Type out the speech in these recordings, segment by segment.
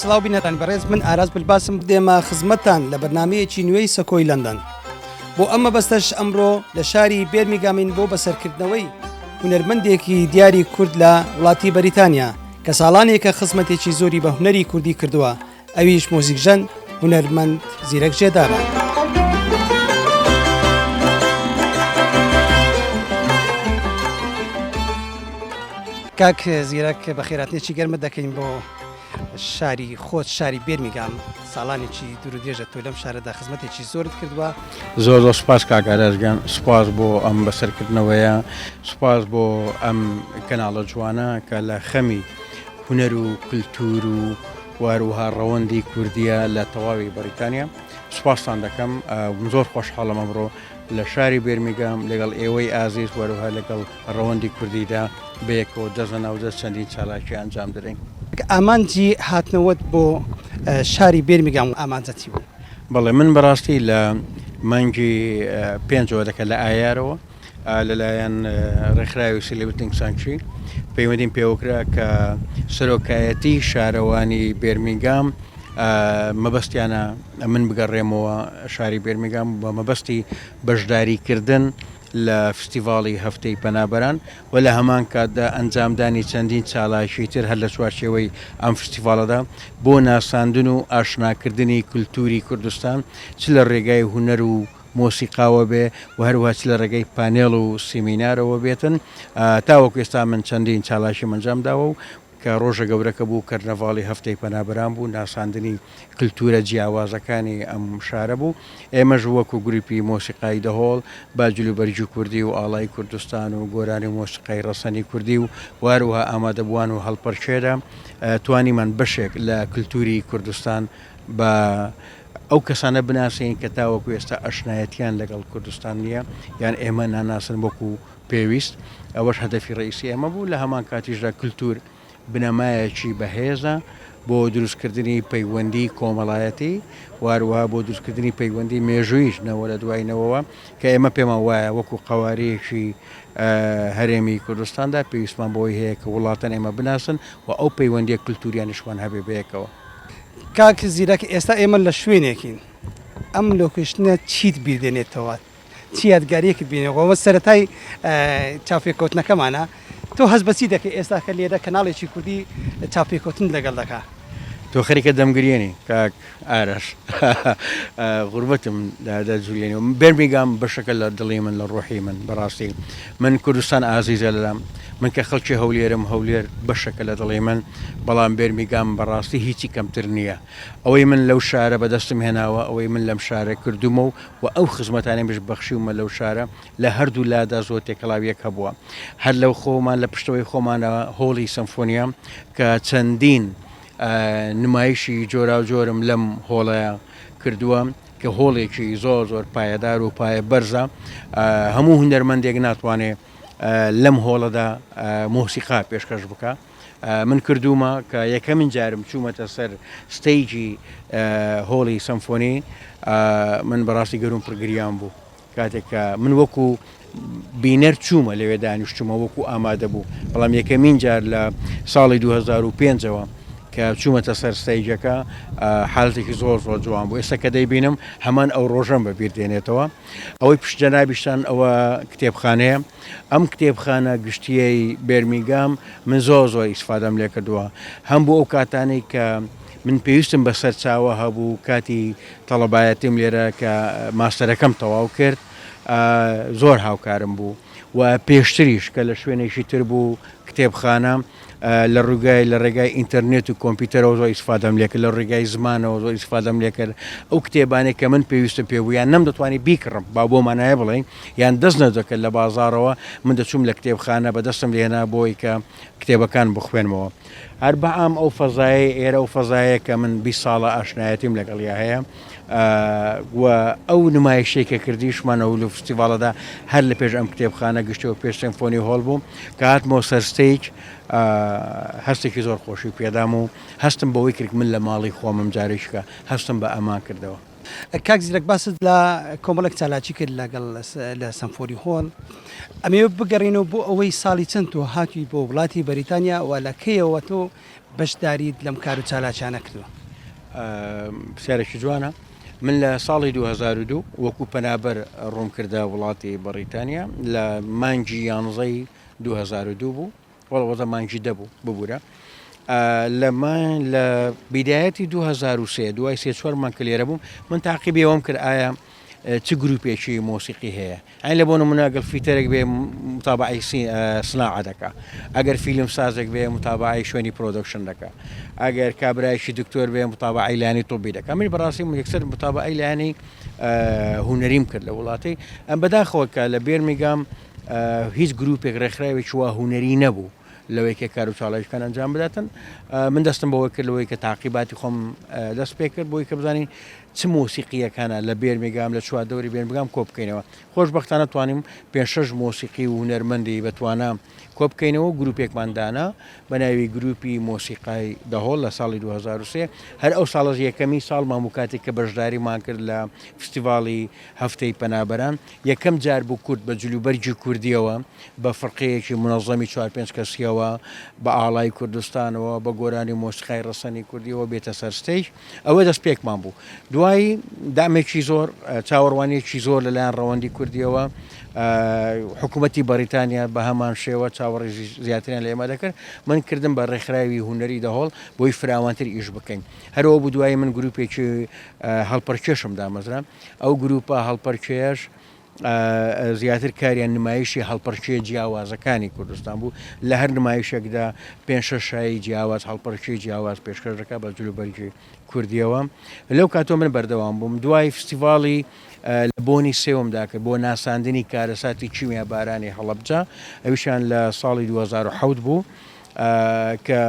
سلااو بینەران بەڕێز من ئاراز بلباسم بدێمە خزمەتان لە بەرنمەیەکی نوێی سەکۆی لەندەن بۆ ئەمە بەستەش ئەمڕۆ لە شاری بێرمیگامین بۆ بەسەرکردنەوەی هونەرمەندێکی دیاری کورد لە وڵاتی بەریتانیا کە ساڵانێکە خزمەتێکی زۆری بە هونەری کوردی کردووە ئەویش مۆزیکژەن هونەرمەند زیرەک جێدارە. کاک زیرەک بە خێراتنێکی گەرمە دەکەین بۆ شاری خۆت شاری بێرمیگام ساڵانێکی دوور درێژە تۆ لەم شارەدا خزمەتێکی زۆرت کردووە زۆر زۆر سپاس کاگارەژگەن سپاس بۆ ئەم بەسەرکردنەوەیە سپاس بۆ ئەم کەناڵە جوانە کە لە خەمی هونەر و کلتور و واروها ڕەوەندی کوردیە لە تەواوی بەریتانیا سوپاستان دەکەم زۆر خۆشحاڵم ئەمڕۆ لە شاری بێرمیگام لەگەڵ ئێوەی ئازیز وەروها لەگەڵ ڕەوەندی کوردیدا بەیەکەوە دەزە ناودە چەندین چالاکی ئەنجام درەین ئامانجی هاتنەوەت بۆ شاری بێرمیگام و ئامانجەتی بوو. بەڵێ من بەڕاستی لە مانگی پێنجەوە دەکە لە ئایارەوە لەلایەن ڕێکخراوی سیلبتنگ سانکچی پەیوەندیم پێوەکرا کە سەرۆکایەتی شارەوانی بێرمینگام مەبەستیانە من بگەڕێمەوە شاری بێرمینگام بە مەبەستی بەشداریکردن لە فستیڤاڵی هەفتەی پەنابەران و لە هەمان کاتدا ئەنجامدانی چەندین چالاکی تر هەر لە چوارچێوەی ئەم فستیڤالەدا بۆ ناساندن و ئاشناکردنی کولتوری کوردستان چ لە ڕێگای هوەر و مۆسیقاوە بێ و هەروەها چ لە ڕێگەی پانێڵ و سیمینارەوە بێتن، تاوەکو ئێستا من چەندین چالاکیم ئەنجام داوە و کە ڕۆژە گەورەکە بوو کەرنەڤاڵی هەفتەی پەنابەران بوو، ناساندنی کلتوورە جیاوازەکانی ئەم شارە بوو، ئێمەش وەکو گرووپی مۆسیقای دەهۆڵ بە جلوبەرگی کوردی و ئاڵای کوردستان و گۆرانی و مۆسیقای ڕەسەنی کوردی و و هەروەها ئامادەبووان و هەڵپەرکێرە توانیمان بەشێک لە کلتووری کوردستان بە ئەو کەسانە بناسێنین کە تاوەکو ئێستا ئەشنایەتیان لەگەڵ کوردستان نییە یان ئێمە ناناسن وەکو پێویست، ئەوەش هەدەفی ڕەئیسی ئێمە بوو، لە هەمان کاتیشدا کلتور بنەمایەکی بەهێزە بۆ دروستکردنی پەیوەندی کۆمەڵایەتی و هەروەها بۆ دروستکردنی پەیوەندی مێژووییش نەوە لە دوای نەوەوە کە ئێمە پێمان وایە وەکو قەوارەیەکی هەرێمی کوردستاندا پێویستمان بەوەی هەیە کە وڵاتان ئێمە بناسن و ئەو پەیوەندیە کلتوریانیشمان هەبێ بەیەکەوە. کاک زیرەک ئێستا ئێمە لە شوێنێکین ئەم لۆکیشنە چیت بیردێنێتەوە چی یادگاریەکت بینەوە سەتای چاپێککەوتنەکەمانە تۆ هەز بەچی دەکە ئێستاکە لێرە کەناڵێکی کوردی چاپێککەوتن لەگەڵ دەکە تۆ خەریکە دەمگرێنی کاک ئارەش غوربەتم دادا جوولێنەوە بێرمیگام بەشەکە لە دڵی من لە ڕۆحی من بەڕاستی من کوردستان ئازیزە لەلام من کە خەڵکی هەولێرم هەولێر بەشەکە لە دڵی من بەڵام بێرمیگام بەڕاستی هیچی کەمتر نییە ئەوەی من لەو شارە بەدەستم هێناوە ئەوەی من لەم شارە کردومە و و ئەو خزمەتانەی مش بەخشیومە لەو شارە لە هەردوو لادا زۆر تێکەڵاوی یەک هەبووە هەر لەو خۆمان لە پشتەوەی خۆمانە هۆڵی سەمفۆنیا کە چەندین نمایشی جۆراوجۆرم لەم هۆڵەیە کردووە کە هۆڵێکی زۆر زۆر پایەدار و پایە بەرزە هەموو هونەرمەندێک ناتوانێ لەم هۆڵەدا مۆسیقا پێشکەش بکە من کردومە کە یەکەمین جارم چوومەتە سەر ستەیجی هۆڵی سەمفۆنی من بەڕاستی گەروم پرگریان بوو کاتێک کە من وەکو بینەر چوومە لەوێ دانیشتومە وەکو ئامادە بوو بەڵام یەکەمین جار لە ساڵی 2005ەوە کە چوومەتە سەر ستەیجەکە حالتێکی زۆر زۆر جوان بوو ئێستا کە دەیبینم هەمان ئەو ڕۆژەم بە بیر دێنێتەوە ئەوەی پشت جەنابیشتان ئەوە کتێبخانەیە ئەم کتێبخانە گشتیەی بەرمیگام من زۆر زۆر ئیسفادەم لێ کردووە هەم بۆ ئەو کاتانەی کە من پێویستم بە سەرچاوە هەبوو کاتی تەڵەبایەتیم لێرە کە ماستەرەکەم تەواو کرد زۆر هاوکارم بوو و پێشتریش کە لە شوێنێکی تر بوو کتێبخانە لە ڕووگای لە ڕێگای ئینتەرنێت و کۆمپیوتەرەوە زۆر ئیسفادەم لێکرد لە ڕێگای زمانەوە زۆر ئیسفادەم لێکرد ئەو کتێبانێک کە من پێویستم پێ بوویان نەم دەتوانانی بیکڕم با بۆ مانایە بڵێن یان دەست نەدەکرد لە بازارەوە من دەچووم لە کتێبخانە بە دەستم لێنا بۆی کە کتێبەکان بخوێنمەوە هەر بە ئام ئەو فەزایەی ئێرە ئەو فەزایە کە من بی ساڵە ئاشنایەتیم لەگەڵیا هەیە و ئەو نمایشەی کە کردیشمانە و لە فستیڤالەدا هەر لە پێش ئەم کتێبخانە گشتەوە پێش سمفۆنی هۆڵ بوو کە هاتمۆ سەرستەیج هەستێکی زۆر خۆشی پێدام و هەستم بەوەی کرد من لە ماڵی خۆمم جارێکیکە هەستم بە ئەمان کردەوە. کاک زیرەک باست لە کۆمەڵێک چالاکی کرد لەگەڵ لە سەمفۆری هۆڵ ئەمێ بگەڕینەوە بۆ ئەوەی ساڵی چەند تۆ هاتووی بۆ وڵاتی بەریتانیا و لە کەیەوە تۆ بەشداریت لەم کار و چالاکیانە کردووە پرسیارێکی جوانە من لە ساڵی 2002 وەکو پەنابەر ڕوونکردە وڵاتی بەڕیتانیا لە مانگی یانزەی 2002 بوو وەڵا وەزە مانگی دە بوو ببوورە لەمان لە بیدایەتی 2023 دوای سێ چوار مانگ کە لێرە بووم من تاقیبی ئەوم کرد ئایا چ گروپێکی مۆسیقی هەیە ئەین لە بۆ مناگەل فیتەرێک بێ متابعی سناعە دەکە ئەگەر فیلم سازێک بێ متابعی شوێنی پرۆدکشن دەکە ئەگەر کابراایشی دکتۆر بێ متابعی لانی طبی دەکە من بەڕاستی یەکسەر متابعی لانی هوەریم کرد لە وڵاتی ئەم بەداخەوە کە لە بێرمیگام هیچ گروپێک ڕێکخراوێکی وا هونەری نەبوو لەوەی کە کار و چاڵەویشکان ئەنجام بداتن من دەستم بەوە کرد لەوەی کە تاقیباتی خۆم دەست پێ کرد بۆی کە بزانین چ مۆسیقیەکانە لە بێرمێگام لە چوار دەوری بێن بگام کۆ بکەینەوە خۆشببختانە توانیم پێ شش مۆسیقی و هونەرمەندی بەتوانە کۆ بکەینەوە گروپێکماندانا بە ناوی گروپی مۆسیقای دەهۆڵ لە ساڵی 2023 هەر ئەو ساڵز یەکەمی ساڵ ماموکاتی کە بەشداریمان کرد لە فستیڤاڵی هەفتەی پەنابەران یەکەم جار بوو کورد بە جلوبەرگی کوردییەوە، بە فرقەیەکی مونەزەمی چوار پێنج کەسییەوە، بە ئاڵای کوردستانەوە، بە گۆرانی و مۆسیقای ڕەسەنی کوردییەوە بێتە سەر ستەیج. ئەوە دەستپێکمان بوو. دوایی دەعمێکی زۆر، چاوەڕوانییەکی زۆر لە لایەن ڕەوەندی کوردییەوە، حکوومەتی بەڕیتانیا بە هەمان شێوە چاوەڕێژی زیاتریان لە ئێمە دەکرد. من کردم بە ڕێکخراوی هونەری دەهۆڵ بۆی فراوانتر ئیش بکەین. هەر ئەوە بوو دوایی من گرووپێکی هەڵپەڕکێشم دامەزرا. ئەو گرووپە هەڵپەرکێیەش زیاتر کاریان نمایشی هەڵپەرکێ جیاوازەکانی کوردستان بوو لە هەر نمایشێکدا پێنج شەش شایی جیاواز هەڵپەرکێ جیاواز پێشکەش دەکات بە جلوبەرگی کوردیەوە لەو کاتۆ من بەردەوام بووم دوای فستیڤاڵی لە بۆنی سێومدا کرد بۆ ناساندنی کارەساتی کیمیا بارانی هەڵەبجە ئەویشان لە ساڵی 2010 بوو کە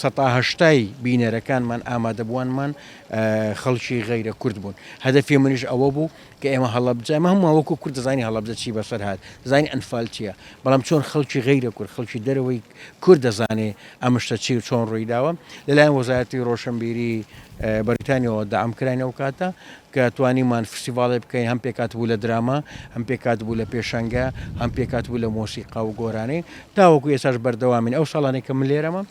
سەتا هەشتای بینەرەکانمان ئامادەبووانمان خەڵکی غەیرە کورد بوون هەدەفی منیش ئەوە بوو کە ئێمە هەڵەبجە مە هەموو وەکو کورد دەزانین هەڵەبجە چی بەسەر هاات دەزانین ئەنفال چییە بەڵام چۆن خەڵکی غەیرە کورد خەڵکی دەرەوەی کورد دەزانێ ئەمشتە چی و چۆن ڕوویداوە لەلایەن وەزارەتی ڕۆشنبیری بەریتانیەوە دام کراین ئەو کاتە کە توانیمان فستیڤاڵێ بکەین هەم پێکهاتبوو لە دراما، هەم پێکهاتبوو لە پێشەنگە، هەم پێکهاتبوو لە مۆسیقا و گۆرانی. تاوەکو ئێستاش بەردەوامین. ئەو ساڵانەی کە من لێرەمم،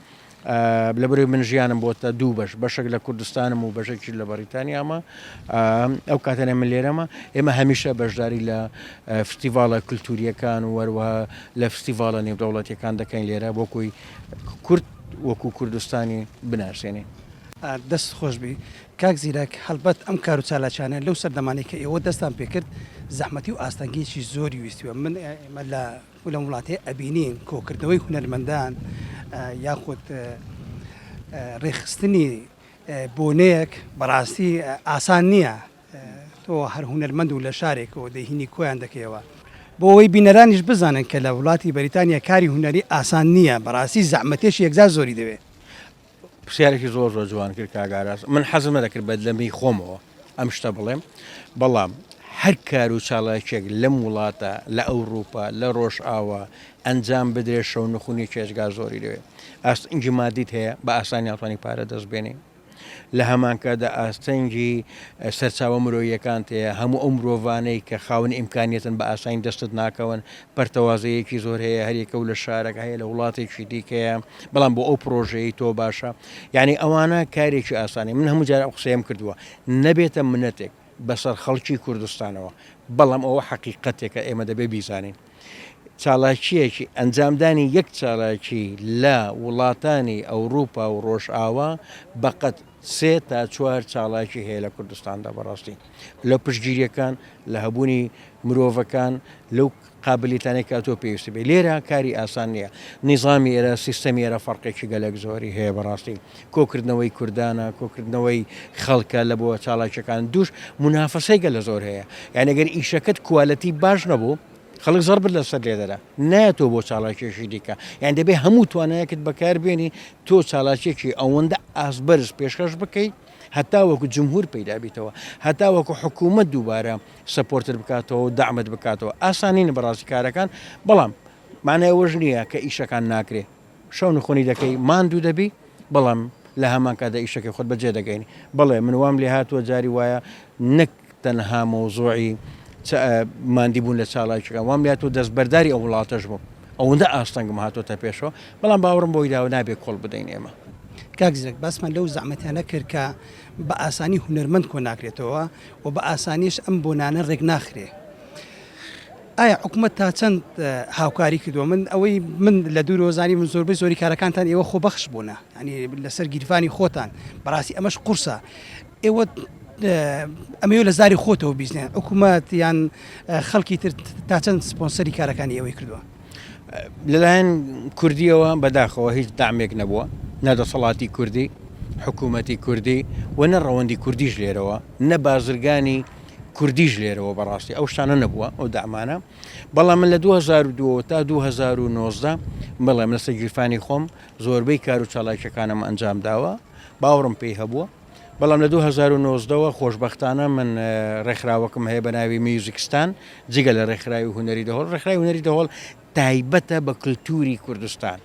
لەبەرئەوەی من ژیانم بۆتە دوو بەش، بەشێک لە کوردستانم و بەشێکیش لە بەڕیتانیامە، ئەو کاتانەی من لێرەمە، ئێمە هەمیشە بەشداری لە فستیڤاڵە کولتوورییەکان و هەروەها لە فستیڤاڵە نێودەوڵەتییەکان دەکەین لێرە بۆ کوی کورد وەکوو کوردستانی بناسێنین. دەست خۆش بی کاک زیرەک، هەڵبەت ئەم کارو چالاکیانە لەو سەردەمانەی کە ئێوە دەستتان پێ کرد زەحمەتی و ئاستەنگیەکی زۆری ویستی و من ئێمە لە لەم وڵاتەی ئەبینین کۆکردنەوەی هونەرمەندان یاخود ڕێخستنی بۆنەیەک بەڕاستی ئاسان نییە تۆ هەر هونەرمەند و لە شارێکەوە دەهینی کۆیان دەکەیەوە بۆ ئەوەی بینەرانیش بزانن کە لە وڵاتی بەریتانیا کاری هونەری ئاسان نییە بەڕاستی زەحمەتێکی یەکجار زۆری دەوێت پرسیارێکی زۆر زۆر جوان کرد کاک ئاراس من حەزم نەدەکرد بە لەمەی خۆمەوە ئەم شتە بڵێم بەڵام هەر کار و چاڵاکێک لەم وڵاتە لە ئەوروپا لە ڕۆژ ئاوا ئەنجام بدرێت شەو نخونی چێژگا زۆری لەوێ ئاستنگی مادیت هەیە بە ئاسانی ناتوانانی پارە دەست بێنی لە هەمانکەدا ئاستەنگی سەرچاوە مرۆیەکان تەیە هەموو ئەو مرۆڤانەی کە خاونی ئیمکانیتن بە ئاسانی دەستت ناکەون پەرتەوازەیەکی زۆر هەیە هەریەکە و لە شارەک هەیە لە وڵاتێکی دیکەیە بەڵام بۆ ئەو پرۆژەیە تۆ باشە یعنی ئەوانە کارێکی ئاسانی من هەموو جارە قسەیەم کردووە نەبێتە منەتێک بەسەر خەڵکی کوردستانەوە بەڵام ئەوە حەقیقەتێکە ئێمە دەبێ بیزانین چالاکیەکی ئەنجامدانی یەک چالاکی لە وڵاتانی ئەوروپا و ڕۆژئاوا بەقەت سێ تا چوار چالاکی هەیە لە کوردستاندا بەڕاستی لە پشگیریەکان لە هەبوونی مرۆڤەکان لەو قابلیتانەی کە تۆ پێویست بێ لێرە کاری ئاسان نییە نیزامی ئێرە سیستەمی ئێرە فەرقێکی گەلێک زۆری هەیە بەڕاستی کۆکردنەوەی کوردانە کۆکردنەوەی خەڵکە لە بۆ چاڵاکیەکان دوش منافەسەیگە لە زۆر هەیە یانەگەر ئیشەکەت کوالەتی باش نەبوو خەڵک زەڕ بت لەسەر لێدەرە نایەتەوە بۆ چاڵاکیەکی دیکە یان دەبێ هەموو توانایەکت بەکار بێنی تۆ چاڵاکیەکی ئەوەندە ئاست بەرز پێشکەش بکەیت هەتا وەکو جمهور پیدا بیتەوە هەتا وەکو حکوومەت دووبارە سەپۆرتت بکاتەوە و دامت بکاتەوە ئاسانین بەڕاستی کارەکان بەڵام مانای ئەوەش نییە کە ئیشەکان ناکرێ شەو نخۆنی دەکەی ماندوو دەبی بەڵام لە هەمان کادا ئیشەکەی خۆت بەجێ دەگەین بڵێ من وام لێ هاتووە جاری وایە نەک تەنها مەوزوعی چ ماندی بوون لە چالاکیەکان وام لای تۆ دەستبەرداری ئەو وڵاتەش بووم ئەوەندە ئاستەنگم هاتۆتە پێشەوە بەڵام باوەڕم بۆی داوە نابێ کۆڵ بدەین ئێمە. کاک زیرەک باسمان لەو زەحمەتانە کرد کە بە ئاسانی هونەرمەند کۆ ناکرێتەوە و بە ئاسانیش ئەم بۆنانە ڕێک ناخرێ ئایا حکوومەت تا چەند هاوکاری کردووە من ئەوەی من لە دوور وەزانی من زۆربەی زۆری کارەکانتان ئێوە خۆبەخش بوونە ینی لەسەر گیرفانی خۆتان بەڕاستی ئەمەش قورسە ئێوە ئەمەوێت لە زاری خۆتەوە بیزنێن حکوومەت یان خەڵکی تر تا چەند سپۆنسەری کارەکانی ئەوەی کردووە لەلایەن کوردیەوە بەداخەوە هیچ دامێک نەبووە نەدەسەڵاتی کوردی حکوومەتی کوردی و نە ڕەوەندی کوردیش لێرەوە نە بازرگانی کوردیش لێرەوە بەڕاستی ئەو شتانە نەبووە ئەو دامانە بەڵام من لە 2002 تا 2009 بڵێم لەسەر گیرفانی خۆم زۆربەی کار و چالاکیەکانم ئەنجام داوە باوڕم پێی هەبووە بەڵام لە دوو هەزار و نۆزدە وە خۆشبەختانە من ڕێکخراوەکم هەیە بە ناوی میوزیکستان جگە لە ڕێکخراوی هونەری دەهۆڵ ڕێکخراوی هونەری دەهۆڵ تایبەتە بە کللتوری کوردستان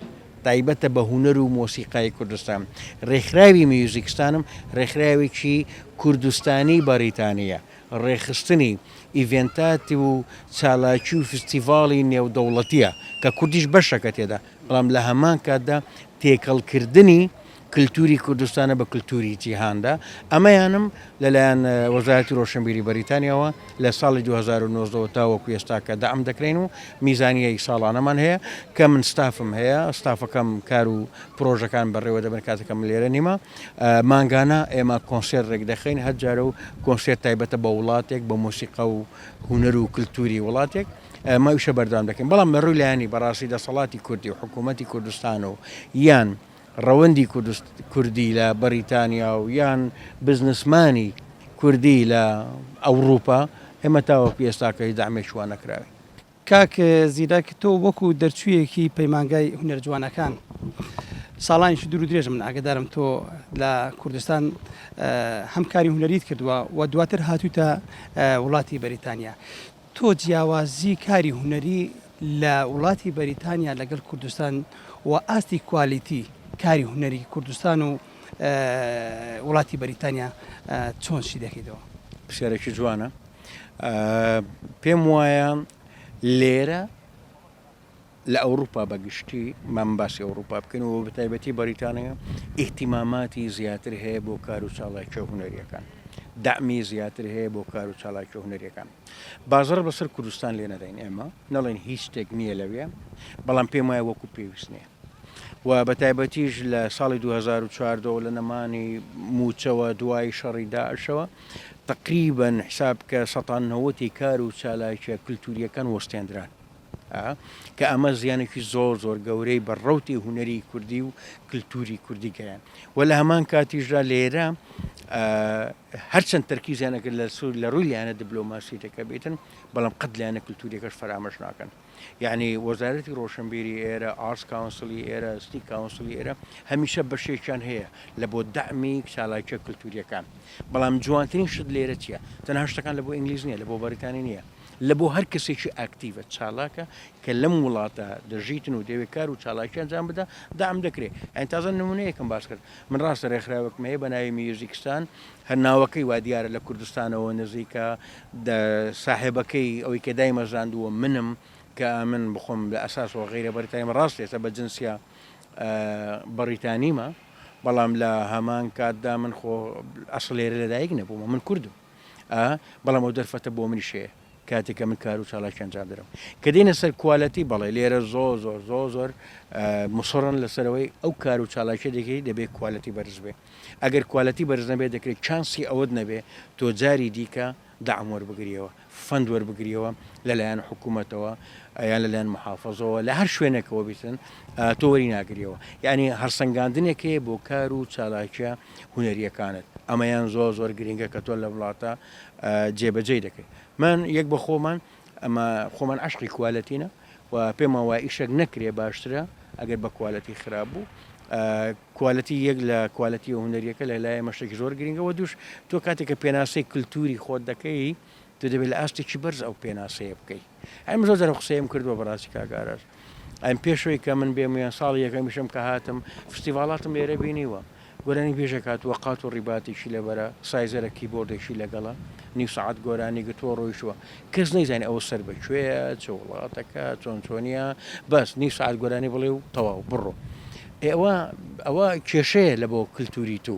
تایبەتە بە هونەر و مۆسیقای کوردستان ڕێکخراوی میوزیکستانم ڕێکخراوێکی کوردستانی بەریتانیە ڕێخستنی ئیڤێنتات و چالاکی و فستیڤاڵی نێودەوڵەتیە کە کوردیش بەشەکە تێدا بەڵام لە هەمان کاتدا تێکەڵکردنی کلتوری کوردستانە بە کلتوری جیهاندا، ئەمەیانم لەلایەن وەزارەتی رۆشنبیری بەریتانیاوە لە ساڵی دوو هەزار و نۆزدە وە تاوەکو ئێستاکە دەعم دەکرێین و میزانیەی ساڵانەمان هەیە کە من ستافم هەیە ستافەکەم کار و پرۆژەکان بەڕێوەدەبەن کاتەکە من لێرە نیمە مانگانە ئێمە کۆنسێرت رێکدەخەین هەر جارە و کۆنسێرت تایبەتە بە وڵاتێک بە مۆسیقا و هونەر و کلتوری وڵاتێک ئەمە ئیشە بەردەوام دەکەین بەڵام لە رووی لایەنی بەڕاستی دەسەڵاتی کوردی و حکوومەتی کوردستان و یان ڕەوەندی کوردی لە بەڕیتانیا و یان بزنسمانی کوردی لە ئەوڕوپا ئێمە تاوەکو ئێستاکە هیچ دەعمێکی وا نەکراوین. کاک زیرەک تۆ وەکو دەرچویەکی پەیمانگای هونەرە جوانەکان ساڵانێکی دوور و درێژە من ئاگەدارم تۆ لە کوردستان هەم کاری هونەریت کردووە و دواتر هاتوویتە وڵاتی بەریتانیا تۆ جیاوازی کاری هونەری لە وڵاتی بەریتانیا لەگەل کوردستان و ئاستی کوالیتی کاری هونەری کوردستان و وڵاتی بەریتانیا چۆن شی دەکەیتەوە؟ پرسیارێکی جوانە پێم وایە لێرە. لە ئەوروپا بە گشتی مام باسی ئەوروپا بکەین و بە تایبەتی بەریتانیا ئیهتیماماتی زیاتر هەیە بۆ کار و چاڵاکیە هونەریەکان دەعمی زیاتر هەیە بۆ کار و چاڵاکیە هونەریەکان بازڕ بەسەر کوردستان لێ نەدەین ئێمە نەڵێن هیچ شتێک نییە لەوێ بەڵام پێم وایە وەکو پێویست نییە و بە تایبەتیش لە ساڵی 2014 لە نەمانی موچەوە دوای شەڕی داعشەوە تقریبن حساب کە سەتان نەوەتی کار و چالاکیە کللتوریەکان وەستێنران ە، کە ئەمە زیانێکی زۆر زۆر گەورەی بە ڕەوتی هونەری کوردی و کلتوری کوردی گەیان و لە هەمان کاتیشدا لێرە هەرچەند تەرکیزیانەکە لە سوور لە ڕووی لایەنە دبلۆماسیەکە بێتن بەڵام قەت لایەنە کللتوریەکەش فەرامەش ناکەن یعنی وەزارەتی ڕۆشنبیری ئێرە ئارس کاونسلی ئێرە ستی کاونسلی ئێرە هەمیشە بەشێکیان هەیە لە بۆ دەمی چالاکە کللتوریەکان بەڵام جوانترین شت لێرە چیە تەنها شتەکان لە بۆ ئینگلیز نیە لە بۆ بەریتانی نیە لە بۆ هەر کەسێکی ئاکتیڤە، چالاکە، کە لەم وڵاتە دەژیتن و دەیەوێ کار و چالاکی ئەنجام بدا، دەعم دەکرێ. یانی تازە نموونەیەکم باس کرد. من ڕاستە رێکخراوێکم هەیە بە ناوی میوزیکستان، هەر ناوەکەی وا دیارە لە کوردستانەوە نزیکە، ساحێبەکەی، ئەوەی کە دایمەزراندووە منم، کە ئەمن بخۆم لە ئەساسەوە غەیرە بەریتانیمە، ڕاست ئێستا بە جنسیە بەڕیتانیمە، بەڵام لە هەمان کاتدا من خۆ ئەسڵ لێرە لە دایک نەبوومە، من کوردم. ئا بەڵام ئەو دەرفەتە بۆ منیش هەیە کاتێک کە من کار و چالاکی ئەنجام دەدەم کە دێنە سەر کوالەتی بەڵێ لێرە زۆر زۆر زۆر زۆر مسڕن لەسەرەوەی ئەو کار و چالاکی دەکەی دەبێت کوالەتی بەرز بێ ئەگەر کوالەتی بەرز نەبێ دەکرێت چانسی ئەوەت نەبێ تۆ جاری دیکە داعم وەربگریەوە فەند وەربگریەوە لەلایەن حکوومەتەوە یان لەلایەن محافظەوە لە هەر شوێنێکەوە بیتن تۆوەری ناگریەوە یعنی هەرسەنگاندنێکەیە بۆ کار و چالاکیە هونەریەکانت ئەمەیان زۆر زۆر گرنگە کە تۆ لە وڵاتە جێبەجێ دەکەیت من یەک بە خۆمان ئەمە خۆمان عشقی کوالەتینە و پێمان وای ئیشەک نەکرێ باشترە ئەگەر بە کوالەتی خراپ بوو کوالەتی یەک لە کوالەتی و هونەریەکە لە لایە مەشتێک زۆر گرنگەوە دوش تۆ کاتێککە پێناسەی کللتوری خۆت دەکەی تو دەبێت لە ئاستێکی بەرز ئەو پێناسەیە بکەیت ئەم زۆر جار قسەیم کردووە بەڕاستی کاک ئاراس ئەم پێشەوەی کە من بێم یان ساڵ یەکەمیشم کە هاتم فستیڤاڵاتم لێرە بینیوە گۆرانی بێژێک هاتووە قات و ڕیباتێکی لەبەرە سایزەرە کیبۆردێکی لەگەڵە نیو سەعات گۆرانی گرتووە ڕۆیشتووە کەس نەیزانانی ئەوە سەر بە کوێیە چ وڵاتەکە چۆن چۆنیە بەس نیو سەعات گۆرانی بڵێ و تەواو بڕۆ ئێوە ئەوە کێشەیە لە بۆ کللتوری تو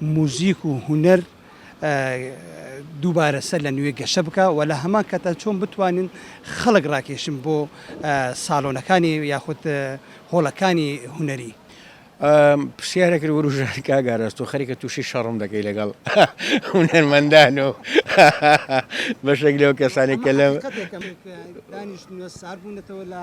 موزیک و هونەر دووبارە سەر لە نوێ گەشە بکا و لە هەمان کاتدا چۆن بتوانین خەڵک ڕاکێشن بۆ ساڵۆنەکانی یاخود هۆڵەکانی هونەری. پرسیارێک وروژاند کاک ئاراس تۆ خەریکە تووشی شەڕم دەکەی لەگەڵ هونەرمەندان و بەشێک لەو کەسانەی کە لەم. دانیشتنە ساربوونەتەوە لە.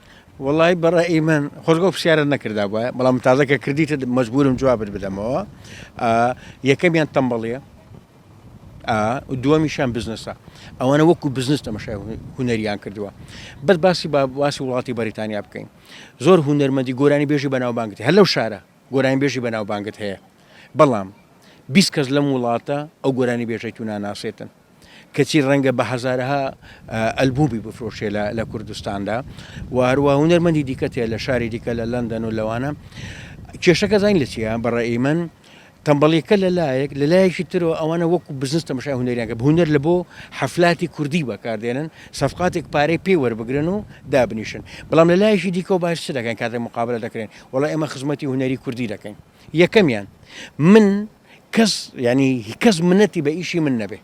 وەڵایی بەڕای من خۆزگە ئەو پرسیارەت نەکردابوایە، بەڵام من تازە کە کردیتت مەجبورم جوابت بدەمەوە. ئا، یەکەمیان تەمبەڵییە، ئا، و دووەمیشیان بزنسە. ئەوانە وەکوو بزنس تەمەشای هو- هونەریان کردووە. بەس باسی با باسی وڵاتی بەریتانیا بکەین. زۆر هونەرمەندی گۆرانیبێژی بەناوبانگت هەیە، هەر لەو شارە گۆرانیبێژی بەناوبانگت هەیە، بەڵام بیست کەس لەم وڵاتە ئەو گۆرانیبێژەی تو ناناسێتن. کەچی ڕەنگە بە هەزارەها ئەلبومی بفرۆشێ لە کوردستاندا و هەروە هونەرمەندی دیکە تێ لە شاری دیکە لە لەندەن و لەوانە کێشەکە زین لە چیە بەڕێی من تەمبەڵیکە لە لایەک لە لایەکی ترەوە ئەوانە وەکو بزنس تەمەشای هونەریانگە هونەر لە بۆ حەفلاتی کوردی بەکاردێنن سەفقاتێک پارەی پێی وەربگرن و دابنیشن بەڵام لە لایەکی دیکەەوە باش دەکەن کاتێک مقابلە دەکرێن وڵا ئێمە خزمەتی هونەری کوردی دەکەین یەکەمیان من کەس یانی کەس منەتی بە ئیشی من نەبێ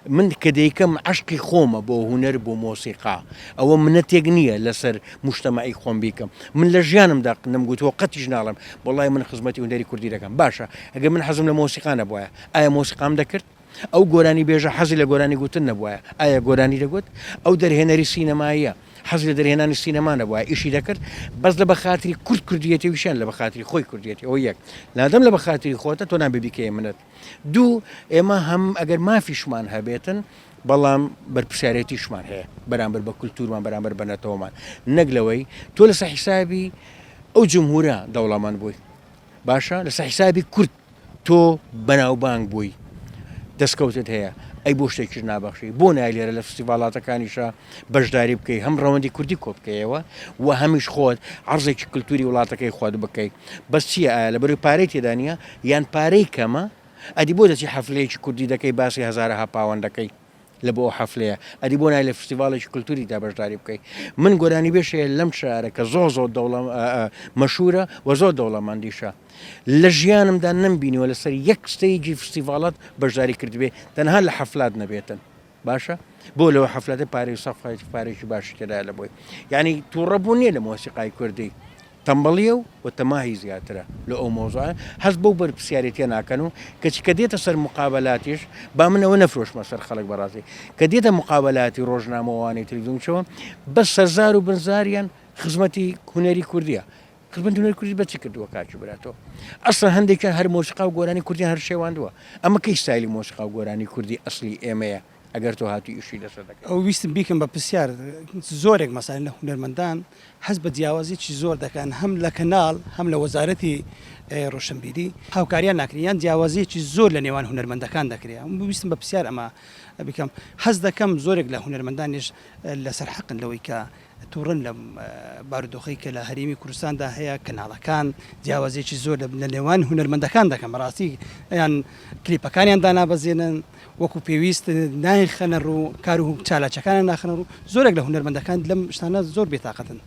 من کە دەیکەم عشقی خۆمە بۆ هوەر بۆ مۆسیقا ئەوە منەتێک نییە لەسەر مشتمەعی خۆم بیکەم من لە ژیانم دەق نم گوتووە قەتیش ناڵم بەڵی من خزمەتی هوەری کوردی دەکەم باشە ئەگە من حەزم لە مۆسیقانە بواە ئایا مۆسیقام دەکرد ئەو گۆرانی بێژە حەزی لە گۆرانی گوتن نەبواە ئایا گۆرانی دەگوت ئەو دەرهێنەری سینەماییە حەز لە دەرهێنانی سینەما نەبوایە ئیشی دەکرد بەس لە بەخاتری کورد کوردیەتی وشیان لە بەخاتری خۆی کوردیەتی ئەو یەک لادەم لە بەخاتری خۆتە تۆ نابێ بیکەی منەت دوو ئێمە هەم ئەگەر مافیشمان هەبێتن بەڵام بەرپسیارەتیشمان هەیە بەرامبەر بە کولتورمان بەرامبەر بە نەتەوەمان نەک لەوەی تۆ لەسە حیسابی ئەو جمهورە دەوڵەمەند بووی باشە لەسە حیسابی کورد تۆ بەناوبانگ بووی دەستکەوتت هەیە ئەی بۆ شتێکیش نابەخشی بۆ نای لێرە لە فستیڤالاتەکانیشە بەشداری بکەی هەم ڕەوەندی کوردی کۆبکەیەوە و هەمیش خۆت عرضێکی کللتوری وڵاتەکەی خۆت بکەی بەس چیە ئایا لە بەروی پارەی تێدانە یان پارەی کەمە ئەدی بۆ دەچی حەفلەیەکی کوردی دەکەی باسی هزارەها پاوەندەکەی لە بۆ ئەو حەفلەیە ئەدی بۆ نای لە فستیڤاڵێکی کلتوری دا بەشداری بکەی من گۆرانی بێش هەیە لەم شارە کە زۆ زۆ دەوڵە مەشورە وە زۆر دەوڵەمەندیشە لە ژیانمدا نم بینیوە لەسەر یەک ستەیجی فستیڤاڵات بەشداری کردبێ تەنها لە حەفلات نەبێتن باشە بۆ لەوە حەفلەتە پارێ سەفای پارێکی باشی تێدا لە بۆی یعنی تووڕە بوو نییە لە مۆسیقای کوردی تەمبەڵیە و و تەماهی زیاترە لۆ ئەو مەوزوعە هەست بەو بەرپسیارێتیە ناکەن و کەچی کە دێتە سەر موقابەلاتیش با من ئەوە نەفرۆشمە سەر خەڵک بەڕاستی کە دێتە موقابەلاتی ڕۆژنامە و ئەوانەی تری دومچەوە بەس سەرزار و بنزاریان خزمەتی هونەری کوردیە خزمەتی هونەری کوردی بە چی کردووە کاکی برا تۆ ئەسڵەن هەندێکیان هەر مۆسیقا و گۆرانی کوردیان هەر شێواندووە ئەمە کەی ستایلی مۆسیقا و گۆرانی کوردی ئەسڵی ئێمەیە ئەگەر تۆ هاتووی ئیشی لەسەر دەکەی. ئەو ویستم بیکەم بە پرسیار زۆرێک مەسەلەن لە هونەرمەندان هەست بە جیاوازیی زۆر دەکەن هەم لە کەناڵ هەم لە وەزارەتی ڕۆشنبیری هاوکاریان ناکرێ یان جیاوازیی زۆر لە نێوان هونەرمەندەکان دەکرێ ئەم ویستم بە پرسیار ئەمە بیکەم هەست دەکەم زۆرێک لە هونەرمەندانیش لەسەر حەقن لەوەی کە توڕەن لەم بارودۆخەی کە لە هەرێمی کوردستاندا هەیە کەناڵەکان جیاوازیەکی زۆر لە نێوان هونەرمەندەکان دەکەن بەڕاستی ئەیان کلیپەکانیان دانابەزێنن وەکو پێویست نایخەنە ڕوو کار و چالاچەکانە ناخنە ڕوو زۆرێک لە هونەرمەندەکان لەم شتانە زۆر بێتاقەتن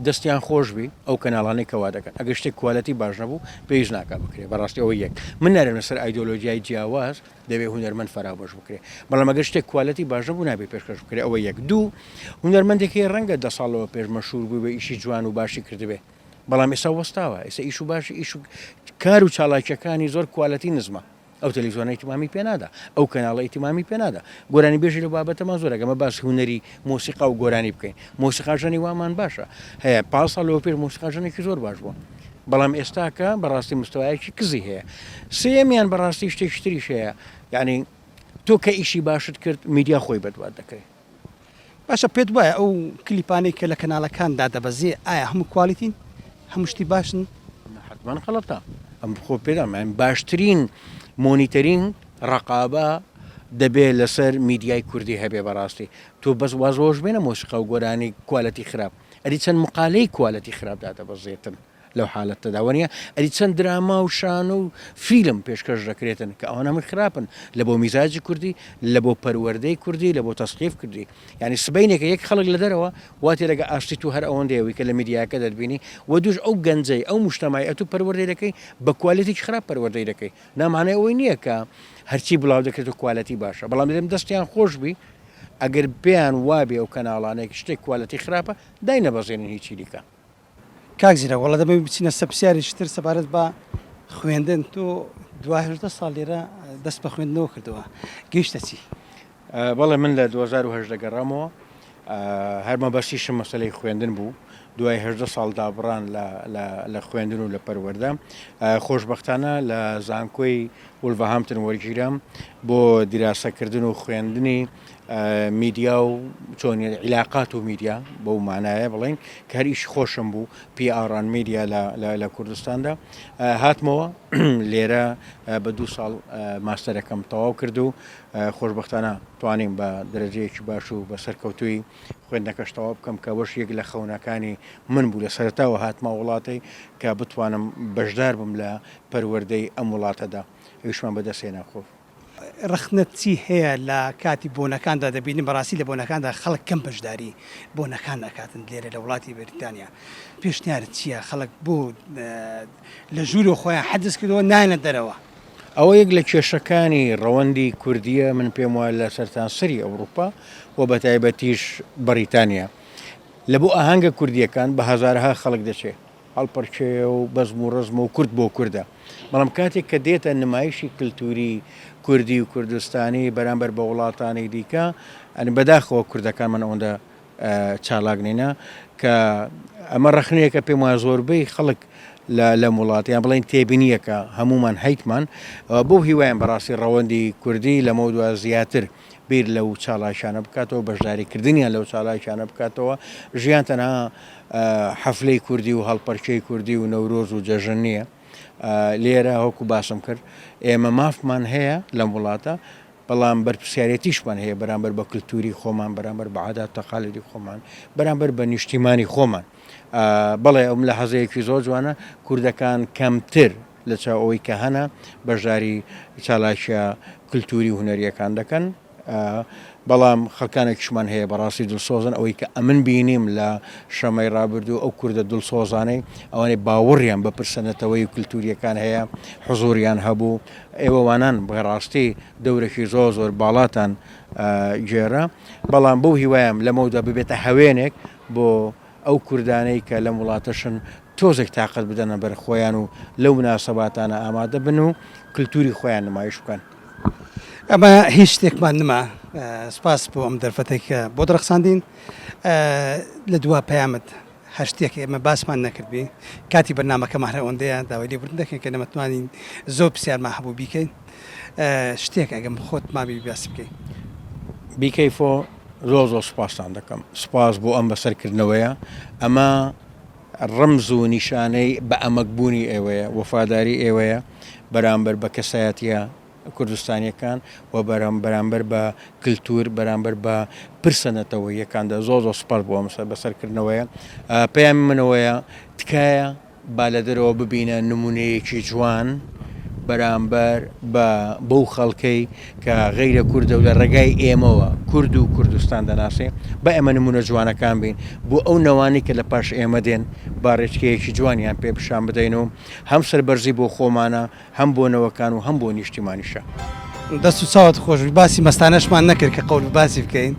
دەستیان خۆش بی ئەو کەناڵانەی کەوا دەکەن ئەگە شتێک کوالەتی باش نەبوو پێویست ناکە بکرێ بەڕاستی ئەوە یەک من نارێنە سەر ئایدۆلۆژیای جیاواز دەبێت هونەرمەند فەرابەش بکرێت بەڵام ئەگەر شتێک کوالەتی باش نەبوو نابێت پێشکەش بکرێت ئەوە یەک دوو هونەرمەندێک هەیە ڕەنگە دە ساڵەوە پێش مەشهور بووبێ ئیشی جوان و باشی کردبێ بەڵام ئێستا وەستاوە ئێستا ئیش و باشی ئیش و کار و چالاکیەکانی زۆر کوالەتی نزمە ئەو تەلەویزیۆنە ئیتمامی پێنادا ئەو کەناڵە ئیتمامی پێنادا گۆرانی بێژی لە بابەتەمان زۆر ئەگەمە باس هوەری مۆسیقا و گۆرانی بکەین مۆسیقاژەنی وامان باشە هەیە پاسا لەوە پێش مۆسیقاژەنێکی زۆر باش بووە بەرێک. بەڵام ئێستاکە بەڕاستی مستەوایەکی کزی هەیە. سێیەمیان بەڕاستی شتێکی تریش هەیە، یانی تۆ کە ئیشی باشت کرد میدیا خۆی بەدوات دەکرێ. باشە پێت وایە ئەو کلیپانەی کە لە کەنالەکان دادەبەزێ ئایا هەموو کوالیتین؟ هەموو شتی باشن؟ نە حەتمەن غەڵەتە. ئەم خۆ پێ دەڵێم باشترین مۆنیتەرینگ ڕەقابە دەبێ لەسەر میدیای کوردی هەبێ بەڕاستی. تۆ بەس واز وەوەش بێنە مۆسیقا و گۆرانی کوالێتی خراپ. ئەری چەند مقالەی کوالێتی خراپ دادەبەزێتن لەو حالەتەدا وەنیە ئەری چەند دراما و شانۆ و فیلم پێشکەش دەکرێتن کە ئەوانە من خراپن لە بۆ میزاجی کوردی لە بۆ پەروەردەی کوردی لە بۆ تەسقیف کردی ینی سبینێکە یەک خەڵک لە دەرەوە واتی لەگە ئاشتی تو هەر ئەوەندەیەوەی کە لە میدیاکە دەربینی و دوش ئەو گەنجەی ئەو مشتمای ئەتو پەروەردەی دەکەی بە کوالێتی خراپ پەروەردەی دەکەی نامانای ئەوەی نییە کە هەرچی بڵاو دەکرێت و کوالەتی باشە بەڵام دەم دەستیان خۆشببی ئەگەر پێیان وابێ ئەو کەناڵانەی شتێک کوالێتی خراپە داینەبەزێنن هیچی دیکە. کاک زیرەک وەڵا دەبێ بچینە سەر پرسیارێکی تر سەبارەت بە خوێندن تۆ دوا هەژدە ساڵ لێرە دەست بە خوێندنەوە کردەوە گەیشتە چی؟ بەڵێ من لە دوو هەزار و هەژدە گەڕامەوە هەر مەبەستیشم مەسەلەی خوێندن بوو دوای هەژدە ساڵ دابڕان لە خوێندن و لە پەروەردە خۆشببختانە لە زانکۆی وولڤەهامپتن وەرگیرام بۆ دیراسەکردن و خوێندنی میدیا و چۆنیت عیلاقات و میدیا بەو مانایە بڵین کە هەر ئیش خۆشم بوو پیئاڕان میدیا لە کوردستاندا هاتمەوە لێرە بە دوو ساڵ ماستەرەکەم تەواو کرد و خۆشببختانە توانیم بە درەجەیەکی باش و بە سەرکەوتوی خوێندنەکەش تەواو بکەم کە وەش یەک لە خەونەکانی من بوو لە سەرتاوە هاتمە وڵاتی کە بتوانم بەشدار بم لە پەروەردەی ئەم وڵاتەدا ئەویشمان بەدەستهێنا خۆ. ڕەخنەت چی هەیە لە کاتی بۆنەکاندا دەبینین بەڕاستی لە بۆنەکاندا خەڵک کەم بەشداری بۆنەکان ئەکاتن لێرە لە وڵاتی بەریتانیا پێشنیارت چیە خەڵک بۆ لە ژوورۆ خۆیان حەجز کردەوە نایەنە دەرەوە؟ ئەوە یەک لە کێشەکانی ڕەوەندی کوردیە من پێم وایە لە سەرتاسەری ئەوروپا و بەتایبەتیش بەڕیتانیا لە بۆ ئاهەنگە کوردیەکان بە هەزارەها خەڵک دەچێ هەڵپەرکێ و بەزم و ڕەزمە و کورد بۆ کوردە، بەڵام کاتێک کە دێتە نمایشی کلتوری کوردی و کوردستانی بەرامبەر بە وڵاتانی دیکە، یانی بەداخەوە کوردەکانمان ئەوەندە چالاک نینە، کە ئەمە ڕەخنەیەکە پێم وایە زۆربەی خەڵک لەم وڵات یان بڵێن تێبینیەکە هەمومان هەیتمان، بەو هیوایەم بەڕاستی ڕەوەندی کوردی لەمەو دوا زیاتر بیر لەو چاڵاکیانە بکاتەوە بەشداری کردنیان لەو چاڵاکیانە بکاتەوە ژیان تەنها حەفلەی کوردی و هەڵپەرکەی کوردی و نەورۆز و جەژن نییە لێرە هەکو باسم کرد ئێمە مافمان هەیە لەم وڵاتە بەڵام بەرپسیارەتیشمان هەیە بەرامبەر بە کللتوری خۆمان بەرامبەر بە عادات تەقالدی خۆمان بەرامبەر بە نیشتیمانی خۆمان بەڵێ ئەم لە حەزەیەکی زۆر جوانە کوردەکان کەمتر لە چاو ئەوەی کە هەنە بەشداری چالاکیە کلتوری و هونەریەکان دەکەن بەڵام خەکانێکشمان هەیە بەڕاستی دڵسۆزن ئەوەی کە ئەمن بینیم لە شەمەی ڕابردوو ئەو کوردە دڵسۆزانەی ئەوانەی باوەڕیان بە پرسەنەتەوەی و کللتوریەکان هەیە حزوریان هەبوو ئێوەوانان بەڕاستی دەورەکی زۆر زۆر باڵاتان گێرە بەڵام بەو هیوایم لەمەودا ببێتە هەوێنێک بۆ ئەو کوردانەی کە لەم وڵاتەشن تۆزێک تاقەت بدەنە بەر خۆیان و لەو مناسەباتانە ئامادە بن و کلتوری خۆیان نمایش بکەن. ئەمە هیچ شتێکمان نما سپاس بۆ ئەم دەرفەتێک کە بۆت ڕەخساندین لە دوا پەیامت هەر شتێک ئێمە باسمان نەکردبی کاتی بەرنمەکەمان هەر ئەوەندەیە داوای لێبوردن دەکەین کە نەمەتوانین زۆر پرسیارمان هەبوو بیکەین شتێک ئەگەم خۆت مابی باسی بکەی. Be careful. زۆر زۆر سوپاستان دەکەم سوپاس بۆ ئەم بەسەرکردنەوەیە ئەمە ڕمز و نیشانەی بە ئەمەکبوونی ئێوەیە وەفاداری ئێوەیە بەرامبەر بە کەسایەتە کوردستانیەکان و بەرام بەرامبەر بە کللتور بەرامبەر بە پرسە نەتەوە یەکاندا زۆ زۆ سوپاس بۆ ئەم بەسەرکردنەوەیە پەیامی منەوەیە تکایە با لە دەرەوە ببینە نمونەیەکی جوان بەرامبەر بە بەو خەڵکەی کە غەیرە کوردە و لە ڕێگای ئێمەوە کورد و کوردستان دەناسێ بە ئێمە نمونە جوانەکان بین بۆ ئەو نەوانی کە لە پاش ئێمە دێن با ڕێچکەیەکی جوانیان پێ پیشان بدەین و هەم سەربەرزی بۆ خۆمانە هەم بۆ نەوەکان و هەم بۆ نیشتیمانیشە. دەست و چاوت خۆش بی باسی مەستانەشمان نەکرد کە قەول باسی بکەین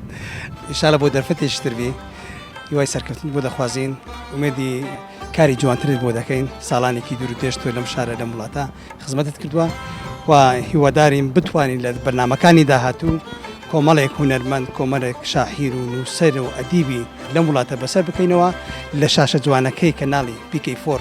انشاللە بۆ دەرفەتێکی تر بی هیوای سەرکەوتنت بۆ دەخوازین ئومێدی کاری جوانترت بۆ دەکەین ساڵانێکی دوور و درێژ تۆ لەم شارە لەم وڵاتە خزمەتت کردووە و هیوادارین بتوانین لە بەرنمەکانی داهاتوو کۆمەڵێک هونەرمەند کۆمەلێک شاحیر و نووسەر و ئەدیبی لەم وڵاتە بەسەر بکەینەوە لە شاشە جوانەکەی کەناڵی پیکەی فۆر